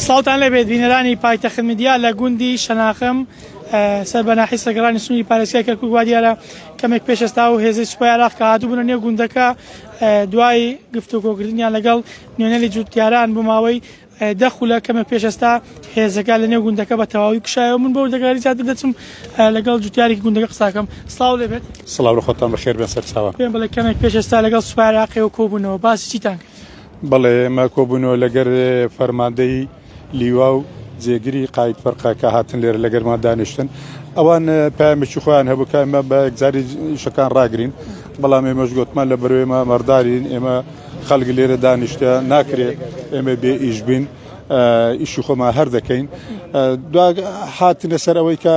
سڵاوتان لەبێت بینەرانی پایتەخت میدیا لە گوندی شەناخم سەر بە ناحی سەگەڕانی سنووری پارێزگای کەرکوک وا دیارە کەمێک پێشستا و هێزی سوپای عراق کە هاتبوونە نێو گوندەکە دوای گفتوگۆکردنیان لەگەڵ نوێنەری جووتیاران بۆ ماوەی دەخولە کەمە پێشستا هێزەکە لە نێو گوندەکە بە تەواوی کشایەوە من بۆ دەگاری زیاتر دەچم لەگەڵ جوتیاری گوندەکە قساکەم سلااو لێبێت سلااو خۆتان بەخێر بێن سەرچاوە پێم بڵێ کەمێک پێشستا لەگەڵ سوپاراقی و کۆبوونەوە باسی چیتان کرد بەڵێ ئێمە کۆبوونەوە لەگەر فەرماندەی لیوا و جێگری قایت فەرقە کە هاتن لێرە لەگەرمان دانیشتن ئەوان پامێکی خۆیان هەبوو کە ئمە بە یەکجاری شەکان ڕاگرین بەڵام ئێمەش گوتمان لە بەرێمە مەردارین ئێمە خەڵک لێرە دانیشتە ناکرێت ئێمە بێ ئیش بین ئیشی خۆمان هەر دەکەین دو هاتنە سەر ئەوەی کە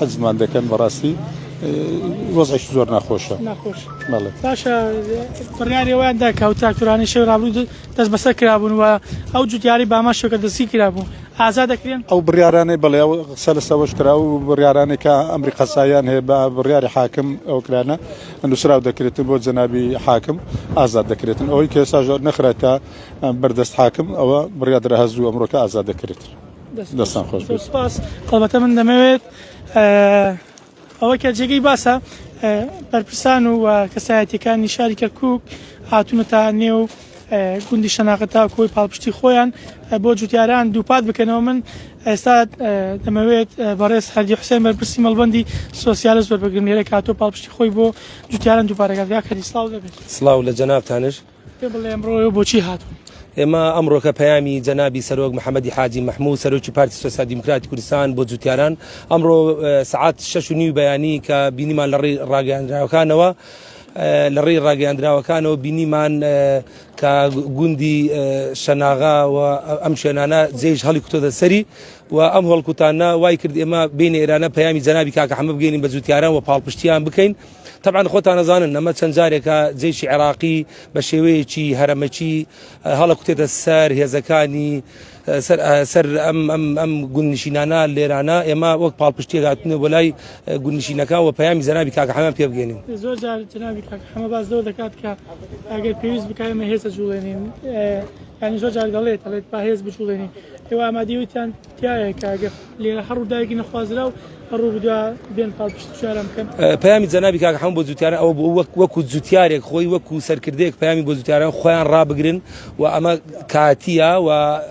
حەزمان دەکەن بەڕاستی وەزعش زۆر ناخۆشە ناخۆش باشە بڕیاری ئەویان داکە و تاکتورانی شەوی ڕابوو دەست بەسەر کرابوون و ئەو جوتیاری باما شەکە دەستی کرابوو ئازا دەکرێن ئەو بڕیارانەی بڵێ و قسە لە سەوەش کرا و بڕیارانێکە ئەمری قەسایان هەیە بە بڕیاری حاکم ئەو کرانە نووسراو دەکرێتن بۆ جەنابی حاکم ئازاد دەکرێتن ئەوەی کە ساژۆر نەخرێتە بەردەست حاکم ئەوە بڕیادرا هەزوو ئەمرۆکە ئازاد دەکرێت. دەستان خۆش بێت سپاس هەڵبەتە من دەمەوێت ئەوە کە جێگەی باسە بەرپرسان و کەسایەتەکانی شاری کەرکک هاتوونەتە نێو گوندی شەناقە تا کۆی پاڵپشتی خۆیان بۆ جوتیاران دووپات بکەنەوە من ئێستا دەمەوێت بەڕێز هەردی حوسێن بەرپرسی مەڵبندی سۆسیالە زۆر بەگرنگێرە کاتۆ پاڵپشتی خۆی بۆ جوتیاران دووپارەکەگا کەری سلااو دەبێت سلااو لە جەنابتانش پێم بڵێ ئەمڕۆ ئێوە بۆچی هاتوون؟ ئێمە ئەمڕۆکە پەیامی جەنابی سەرۆک محەممەدی حاجی مەحموود سەرۆکی پارتی سۆسیال دیموکراتی کوردستان بۆ جووتیاران ئەمڕۆ سعات شش و نیو بەیانی کە بینیمان لە ڕێی ڕاگەیاندراوەکانەوە لە ڕێی ڕاگەیاندراوەکانەوە بینیمان کە گوندی شەناغا و ئەم شوێنانە جێژ هەڵی کوتۆدە سەری و ئەم هەڵکوتانە وای کرد ئێمە بین ئێرانە پەیامی جەنابی کاکە حەمە بگەین بە جووتیاران و پاڵپشتیان بکەین. تەبعەن خۆتان ئەزانن نەمە چەند جارێکە جەیشی عێراقی بە شێوەیەکی هەرەمەکی هەڵەکوتێتە سەر هێزەکانی سەر ئەم گونشینانە لێرانە ئێمە وەک پاڵپشتێک هاتنە بۆ لای گونشینەکە و پەیامی زەنابی کاک حەمە پێ بگەێنین زۆر جار جنابی کاک حەمە باز لەوە دەکات کە ئەگەر پێویست بکایمە هێزە جوڵێنین ینی زۆر جار دەڵێت دەڵێت با هێز بجوڵێنین ئێوە ئامادەویتان تایە کاگە لێرە هەڕوو دایکی نەخوازرا و هەڕوو بدا بێن پاڵ پشت شارم بکەن پامی جەنابی کاک هەم بۆ جوتیارە ئەو بۆ وەک وەکو جوتیارێک خۆی وەکو سەرکردێک پامی بۆ جوتیاران خۆیان ڕابگرن و ئەمە کاتیە و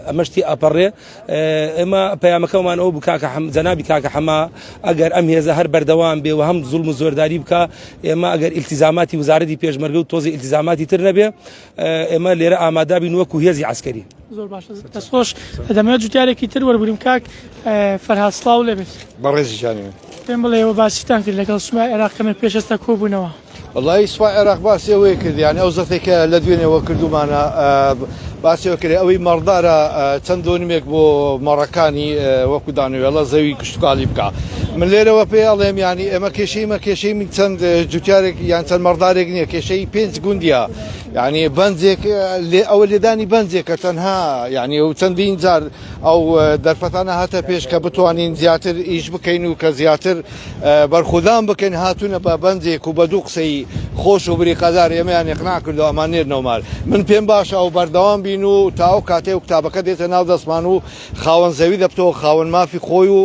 ئەمەشتی ئەپەڕێ ئێمە پەیامەکەمان ئەو بکاکە حەم جەنابی کاکە حەما ئەگەر ئەم هێزە هەر بەردەوام بێ و هەم زوڵم و زۆرداری بکە ئێمە ئەگەر ئیلتیزاماتی وزارەتی پێشمەرگە و تۆزی ئیلتیزاماتی تر نەبێ ئێمە لێرە ئامادابین وەکو هێزی عسکەری زۆر باش دەست خۆش دەمەوێت جوتیارێکی تر وەربگرم کاک فەرهاد سڵاو لێ بێت بەڕێزی جانێ پێم بڵێەوە باسیتان کرد لەگەڵ سومای عێراق کەمێک پێشەستە کۆبوونەوە وڵی سوپا عێراق باسی ئەوەیە کردیان ئەو زەتێکە لە دوێنێەوە کردومانە باسیەوە کرێ ئەوەی مەڕدارە چەند دۆنمێک بۆ مەڕەکانی وەکو دانوێڵە زەوی کشتتوکالی بکە من لێرەوە پێ ئەڵێم ینی ئێمە کێشەیمە کێشەی من چەند جوتارێک یان چەند مەڕدارێک نییە کێشەی پێنج گوندیا یانی بەنجێک لێ ئەوە لێدانی بەنجێکە تەنها یانی ئەو چەندین جار ئەو دەرفەتانە هاتە پێش کە بتوانین زیاتر ئیش بکەین و کە زیاتر بەرخودان بکەین هاتوونە بە بەنجێک و بە دوو قسەی خۆش و بری قەدار ئێمەیان یقنا کردو ئەمان نێرنەوەمال من پێم باشە ئەو بەردەوام بین و تا ئەو کاتێ و کتابەکە دێتە ناو دەستمان و خاوەن زەوی دەبتەوە خاوەن مافی خۆی و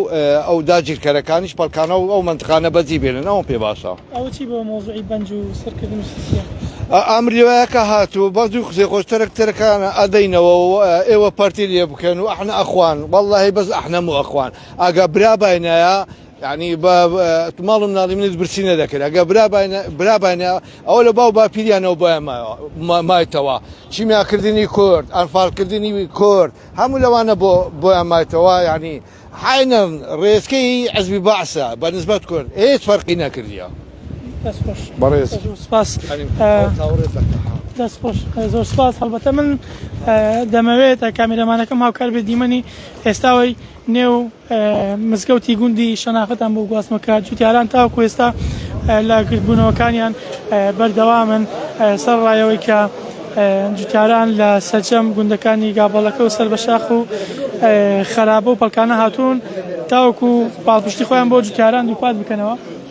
ئەو داگیرکەرەکانیش پەڵکانە و ئەو مەنتقانە بەجی بێنن ئەوەم پێ باشە. ئەوە چی بۆ مەوزوعی بەنج و سرکردن و سیسیە. ئەم روایا کە هاتوو بەس دوو قسەی خۆش تەرەک تەرەکانە ئەدەینەوە و ئێوە پەرتی لێ بکەن و ئەحنە ئەخوان وەڵاهی بەس ئەحنە مو ئەخوان ئەگە برا باینایا یانی بە ماڵ و مناڵی منت برسی نەدەکرد ئەگە برا باینە برا باینە ئەوە لە باو باپیریانەوە بۆیان مایەوە مایتەوە کیمیاکردنی کورد ئەنفالکردنی کورد هەموو لەوانە بۆ بۆیان مایتەوە یانی حینم ڕێچکەی عزبی بەعسە بە نسبەت کورد هێچ فەرقی نەکردیە بەڕێز سپاس دەستخۆش زۆر سپاس هەڵبەتە من دەمەوێت کامیرەمانەکەم هاوکار بێ دیمەنی ئێستاەوەی نێو مزگەوتی گوندی شەناختان بۆ گواستنەوە کە جوتیاران تاوەکو ئێستا لە گردبوونەوەکانیان بەردەوامن سەر ڕایەوەی کە جوتیاران لە سەرجەم گوندەکانی گابەڵەکە و سەر بە شاخ و خەرابە و پەڵکانە هاتوون تاوەکو پاڵپشتی خۆیان بۆ جوتیاران دووپات بکەنەوە.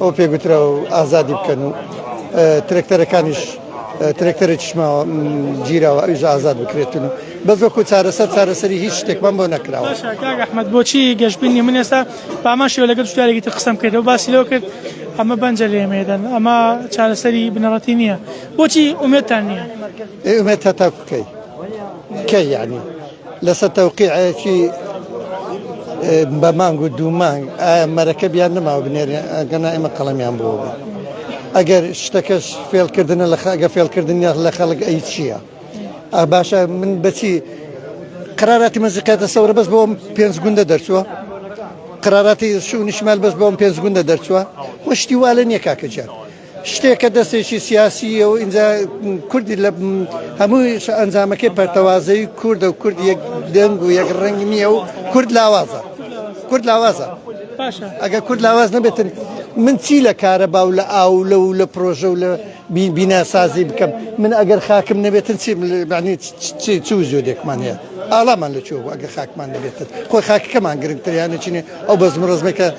ئەو پێ گوترا و ئازادی بکەن و ترەکتەرەکانیش ترەکتەرێکیش ماوە گیراوە ئەویش ئازاد بکرێتن و بە زۆکو چارەسەر چارەسەری هیچ شتێکمان بۆ نەکراوە باشە کاک ئەحمەد بۆچی گەشبینی من ئێستا پامان شێوە لەگەڵ شتارێکی تر قسەم کرد و باسی لەوە کرد ئەمە بەنجە لێمێدەن ئەمە چارەسەری بنەڕەتی نییە بۆچی ئومێدتان نییە ئێ ئومێد هەتا بکەی کەی یعنی لەسەر تەوقیعێکی بە مانگ و دوو مانگ ئایا مەرەکەب یان نەماوە بنێرێ ئەگەنا ئێمە قەڵەمیان بووە بوو ئەگەر شتەکەش فێلکردنە لە خەگە فێلکردن یاخ لە خەڵک ئەی چییە ئا باشە من بەچی قراراتی مەزیقاتە سەورە بەس بۆم پێنج گوندە دەرچووە قراراتی شو نیشمال بەس بۆم پێنج گوندە دەرچووە وەشتی والە نییە کاکەجیان شتێک کە دەستێکی سیاسیە و ئینجا کوردی لە هەمووش ئەنجامەکەی پەرتەوازەی کوردە و کورد یەک دەنگ و یەک ڕنگ نییە و کورد لاوازە کورد لاوازە ئەگە کورد لاواز نەبێتن من چی لە کارە باو لە ئاو لە و لە پرۆژە و لە بیناسازی بکەم من ئەگەر خاکم نەبێتن چی چ زۆدێکمان هەیە ئاڵامان لە چۆ ئەگە خاکمان نەبێتن خۆی خاکەکەمان گرنگتریانە چینێ ئەو بەزم ڕزمەکە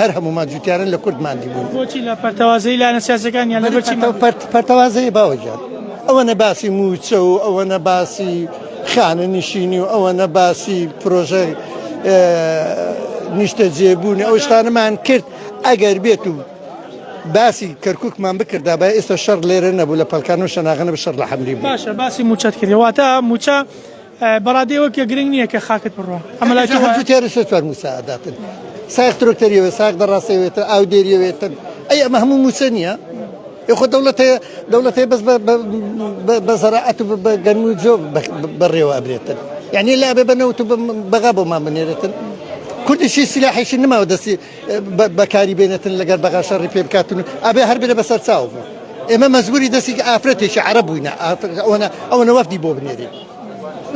هەر هەموومان جوتیارن لە کورد مادی بوون بۆچی لە پەرتەوازەی لایەنە سیاسەکان یان لەبەرچی پەرتەوازەی باوەجان ئەوە نە باسی موچە و ئەوە نە باسی خانە نشینی و ئەوە نە باسی پرۆژە نیشتە جێبوونی ئەو شتانەمان کرد ئەگەر بێت و باسی کەرککمان بکردا بە ئێستا شەر لێرە نەبوو لە پەلکان و شەناغەنە بە شەر لە حەمری باشە باسی موچەت کردواتە موچە بەڕادەی ئەوە کە گرنگ نییە کە خاکت بڕوا ئەمە لای تۆ وایە؟ هەفتەی تێرە سێ چوار مووچە ئەداتن، سایەخ ترۆکتەر یەوێت، سایەخ دەڕاسە یەوێتن، ئاودێر یەوێتن، ئەی ئەمە هەموو مووچە نییە؟ ئێ خۆ دەوڵەت هەیە، دەوڵەت هەیە بەس بە زەراعەت و بە گەنم و جۆ بەڕێوە ئەبرێتن، یانی لابێ بە نەوت و بە بەغا بۆمان بنێرێتن؟ کوردیشی سیلاحیشی نماوە دەستی. بەکاری بێنێتن لەگەر بەغا شەڕی پێ بکاتن ئەبێ هەر بێ بەسەر چاو بوو ئێمە مەزبوری دەستێکی ئافرەتێکی عرە بووینە ئەوەنە ئەوەنە وەفدی بۆ بنێری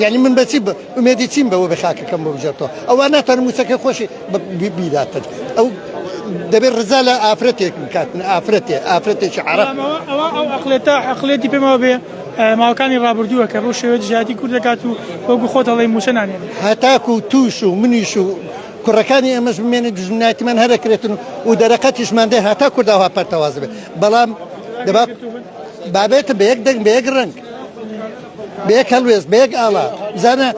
یعنی من بەچی ئومێدی چیم بەوە بە خاکەکەم بۆ بژێتەوە ئەوە ناتەن موچەکە خۆشی بیداتن ئەو دەبێت ڕزا لە ئافرەتێک بکاتن ئافرەتێ ئافرەتێکی عرە ئەقلێتە عقلێتی پێمەوە بێ ماوەکانی ڕابردووە کە بۆ شێوە جیاتی کورد دەکات و بۆ گوخۆ دەڵی موچە نانێت هەتاکو توش و منیش و کوڕەکانی ئێمەش بمێنن دوژمنایەتیمان هەر ئەکرێتن و دەرەقەتیشمان دێ هەتا کورداوا پەرتەواز بێت بەڵام دەبا بابێتە بە یەک دەنگ بە یەک ڕەنگ بە یەک هەڵوێست بە یەک ئاڵا بزانە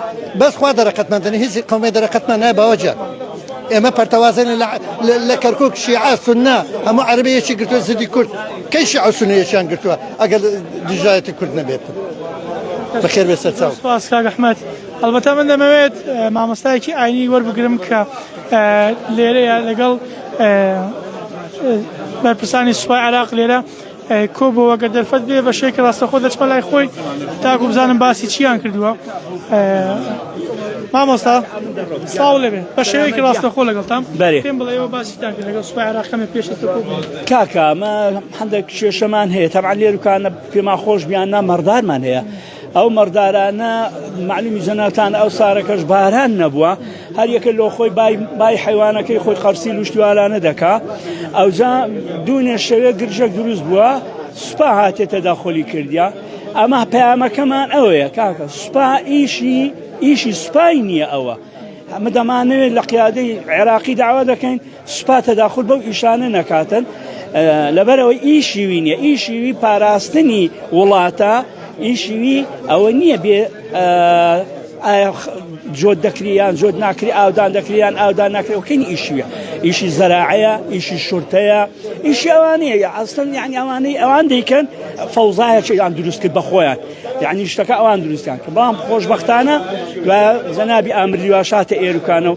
بەس خوا دەرەقەتمان دەنی هیچی قەومێ دەرەقەتمان نای باوەجە ئێمە پەرتەوازن لە کەرکک شیعە سنە هەموو عربەیەکی گرتووە زدی کورد کەی شیع سنەیەکیان گرتووە ئەگەر دژایەتی کورد نەبێت بەخێر بێ سەرچاو سپاس کاک ئەحمەد هەڵبەتە من دەمەوێت مامۆستایەکی ئاینی وەربگرم کە لێرەیە لەگەڵ بەرپرسانی سوپای عراق لێرە کۆ بۆەوە گە دەرفەت بێ بە شێکی ڕاستەخۆ دەچمە لای خۆی تاکو بزانم باسی چیان کردووە مامۆستا ساڵ لەبێ بە شێوەیەکی ڕاستەخۆ لەگەڵتان پێم بڵێەوە باسی لەگەڵ سوپای عراقەمە پێش کاکە ئەمە هەندێک کێشەمان هەیە تەمان لێرکانە پێما خۆش بیان نامەڕدارمان هەیە ئەو مەڕدارانە معلومی جەناتان ئەو سارەکەش باران نەبووە هەر یەکە لۆ خۆی بای حیوانەکەی خۆی قەرسی لوشتوالانە دەکا ئەوجا دوونێ شەوێ گرژە دروست بووە سوپا هاتێتە داخۆلی کردیا ئەمە پەیامەکەمان ئەوەیە کاکە سوپا ئیشی ئیشی سوپای نییە ئەوە ئەمە دەمانەوێت لە قیادەی عێراقی داوا دەکەین سوپا تەداخول بەو ئیشانە نەکاتن لەبەرەوەی ئی شیوی نیە ئی شیوی پاراستنی وڵاتە ئی شیوی ئەوە نییە بێ جۆت دەکریان جۆت ناکری ئاودان دەکریان ئاودان ناکرەوەکەین ئیشیە ئیشی زەراعەیە ئیشی شورتەیە ئیشی ئەوانەیە یا ئەستن یعنی ئەوانەی ئەوان دەیکەن فەوزایەکیان دروست کرد بە خۆیان یعنی شتەکە ئەوان دروستیان کە بەڵام خۆشببختانە و زەنابی ئامریواشاتە ئێرکانە و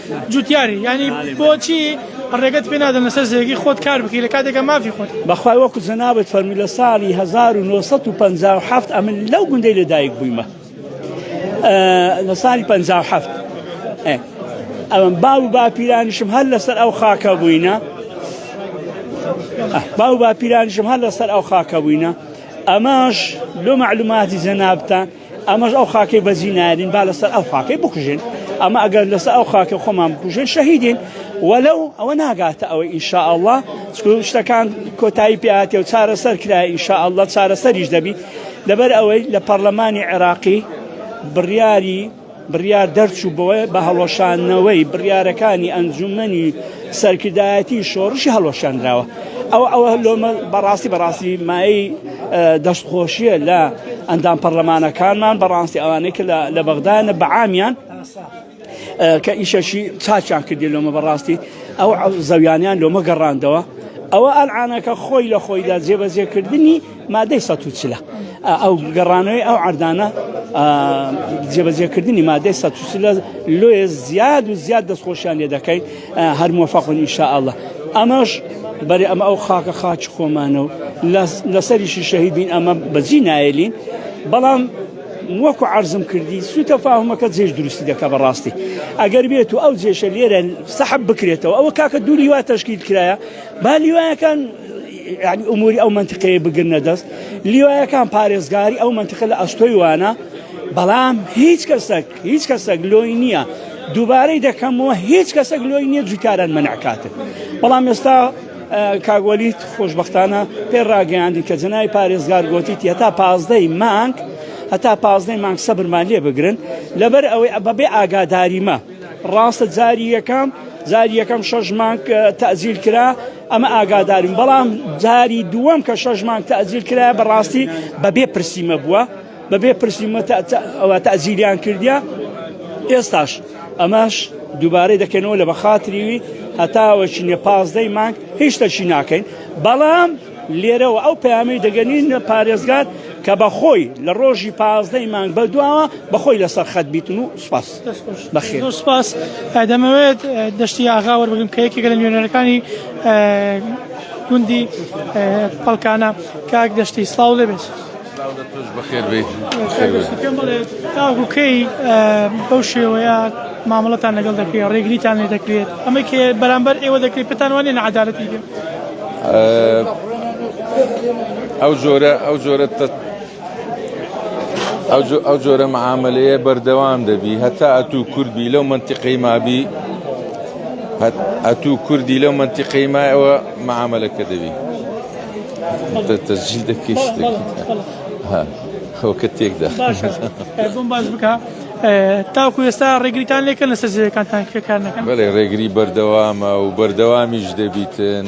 جوتیاری یانی بۆچی ڕێگەت پێ نادەن لەسەر زێگی خۆت کار بکەی لە کاتێکە مافی خۆت بەخوای وەکو جەنابت فەرمی لە ساڵی 1957 ئەمن لەو گوندەی لەدایک بوویمە لە ساڵی 57 ئەوم باو باپیرانیشم هەر لەسەر ئەو خاکە بووینە باو باپیرانیشم هەر لەسەر ئەو خاکە بووینە ئەماش لۆ معلوماتی جەنابتان ئەمەش ئەو خاکەی بەجی نارین با لەسەر ئەو خاکەی بکوژێن ئەمە ئەگەر لەسەر ئەو خاکە خۆمان بکوژێن شەهیدین وەلو ئەوە ناگاتە ئەوە ئینشاء الله شتەکان کۆتایی پیاتی و چارەسەر کرای ئینشاء الله چارەسەریش دەبی لەبەر ئەوەی لە پەرلەمانی عێراقی بڕیاری بڕیار دەرچوو بەوەی بە هەڵوەشانەوەی بڕیارەکانی ئەنجومەنی سەرکردایەتی شۆڕشی هەڵوەشاندراوە ئەو ئەوە لۆمە بەڕاستی بەڕاستی مای دەستخۆشیە لە ئەندام پەرلەمانەکانمان بەڕاستی ئەوانەی کە لە بەغدایە بە عامیان کە ئیشەشی چاچان کردی لۆمە بەڕاستی ئەو زەویانیان لۆمە گەڕاندەوە ئەوە ئەلعانەکە خۆی لە خۆیدا جێبەجێکردنی مادەی سەد و چلە ئەو گەڕانەوەی ئەو عردانە جێبەجێکردنی مادەی سەد و چلە لۆیە زیاد و زیاد دەستخۆشیان لێ دەکەی هەر مۆفەقون ئینشاءاللە ئەمەش بەرێ ئەمە ئەو خاکە خاچ خۆمانە و لەسەریشی شەهیدین ئەمە بەجی نایلین بەڵام وەکو عرضم کردی سوتە فاهمەکە جێش دروستی دەکە بەڕاستی ئەگەر بێت و ئەو جێشە لێرە سەحب بکرێتەوە ئەوە کاکە دوو لیوا تشکیل کرایە با لیوایەکان یانی ئوموری ئەو مەنتقەیە بگرنە دەست لیوایەکان پارێزگاری ئەو مەنتقە لە ئەستۆی وانە بەڵام هیچ کەسەک هیچ کەسەک لۆی نییە دووبارەی دەکەمەوە هیچ کەسەک لۆی نییە جوکاران منعکاتن بەڵام ئێستا کاگوەلیت خۆشببختانە پێ ڕاگەیاندی کە جنای پارێزگار گوتیت هەتا پازدەی مانگ هەتا پازدەی مانگ سەبرمان لێ بگرن لەبەر ئەوەی بەبێ ئاگاداریمە ڕاستە جاری یەکەم جاری یەکەم شەش مانگ تەزیل کرا ئەمە ئاگادارین بەڵام جاری دووەم کە شەش مانگ تەزیل کرایە بەڕاستی بەبێ پرسیمە بووە بەبێ پرسیمە ئەوە تەزیلیان کردیا ئێستاش ئەمەش دووبارەی دەکەنەوە لە بەخاتریوی هەتاوەشی نێ پازدەی مانگ هیچ تەشی ناکەین بەڵام لێرەوە ئەو پامەی دەگەنین لە پارێزگار کە بەخۆی لە ڕۆژی پازدەی مانگ بە دواوە بەخۆی لەسەر خەت بیتن و سپاس. بەخێر. زۆر سپاس ئە، دەمەوێت ئە، دەشتی ئاغا وەربگرم کە یەکێکە لە نوێنەرەکانی ئە، گوندی ئە، پەڵکانە. کاک دەشتی سڵاو لێ بێت. سلاو لە تۆش بەخێر بێیت. کاک دەشتی پێم بڵێ تاوەکو کەی ئە، بەو شێوەیە مامەڵەتان لەگەڵ دەکرێت، ڕێگریتان لێ دەکرێت، ئەمەی کە بەرامبەر ئێوە دەکرێت پێتان وانیە ناعەدالەتی بێت؟ ئە، ئەو جۆرە، ئەو جۆرە تە، ئەو جۆرە معاملەیە بەردەوام دەبی هەتا ئەتوو کوردبی لەو منتیقەی مابی ئەتوو کوردی لەو منتیقەی مایەوە معاملەکە دەبی تەجیل دەکەی خەوکە تێکدا بۆم باز بکە تاکو ئێستا ڕێگریتان لێکە لە سەرزیەکانتان کێکار نەکەن بەێ ڕێگری بەردەوامە و بەردەوامیش دەبیتن.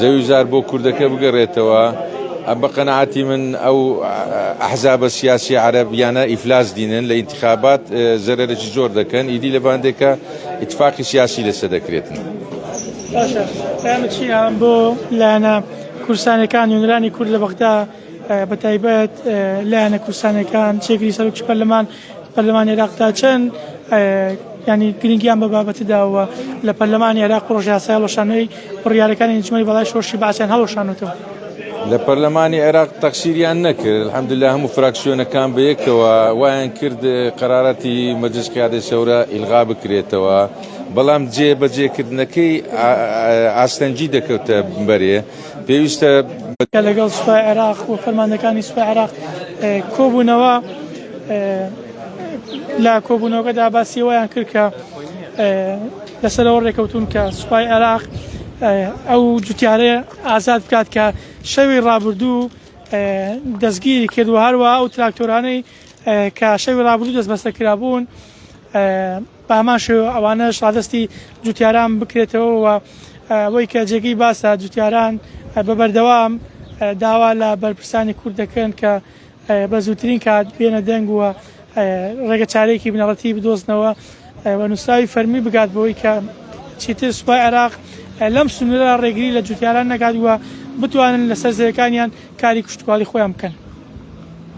زەوی زار بۆ کوردەکە بگەرێتەوە بە قەناعەتی من ئەو ئەحزابە سیاسی عەرەب یانە ئیفلاس دینن لە ئینتخابات زەرەرەی زۆر دەکەن ئیدی لە باندێکە ئیتفاقی سیاسی لەسە دەکرێتن. باشە پەیامە چیە بۆ لایەنە کورسانەکان نوێنەرانی کورد لە بەغدا بە تایبەت لایەنە کورسانەکان چێگری سەرۆکی پەرلەمان پەرلەمانی عێراق تا چەند یانی گرنگیان بە بابەتی داوە لە پەرلەمانی عێراق پڕۆژە یاسای هەڵوەشانەوەی بڕیارەکانی ئەنجومەنی باڵای شۆڕشی بەعسیان هەڵوەشانوتەوە لە پەرلەمانی عێراق تەخسیریان نەکرد الحمدلله هەموو فراکسیۆنەکان بە یەکەوە وایان کرد قەرارەتی مەجلس قیادەی سەورە ئیلغا بکرێتەوە بەڵام جێ بەجێکردنەکەی ئاستەنگی دەکەوتە بەرێ پێویستە لەگەڵ سوپای عێراق و فەرماندەکانی سوپای عێراق کۆبوونەوە لە کۆبوونەوەکەدا باسی وایان کرد کە لەسەرەوە ڕێکەوتون کە سوپای عێراق ئەو جوتیارێ ئازاد بکات کە شەوی ڕابردوو دەستگیری کرد و هەروە ئەو تراکتۆرانەی کە شەوی ڕابردوو دەست بەسەر کرابوون بامان شێوە ئەوانە شادستی جوتیاران بکرێتەوە و ئەوەی کە جێگەی باسە جوتیاران بە بەردەوام داوا لە بەرپرسانی کورد دەکەن کە بە زووترین کات بێنە دەنگ و ڕێگە چارەیەکی بنەڕەتی بدۆزنەوە و نووسراوی فەرمی بگات بەوەی کە چیتر سوپای عێراق لەم سنوورە ڕێگری لە جوتیاران نەکات و بتوانن لەسەر زەویەکانیان کاری کشتوکاڵی خۆیان بکەن.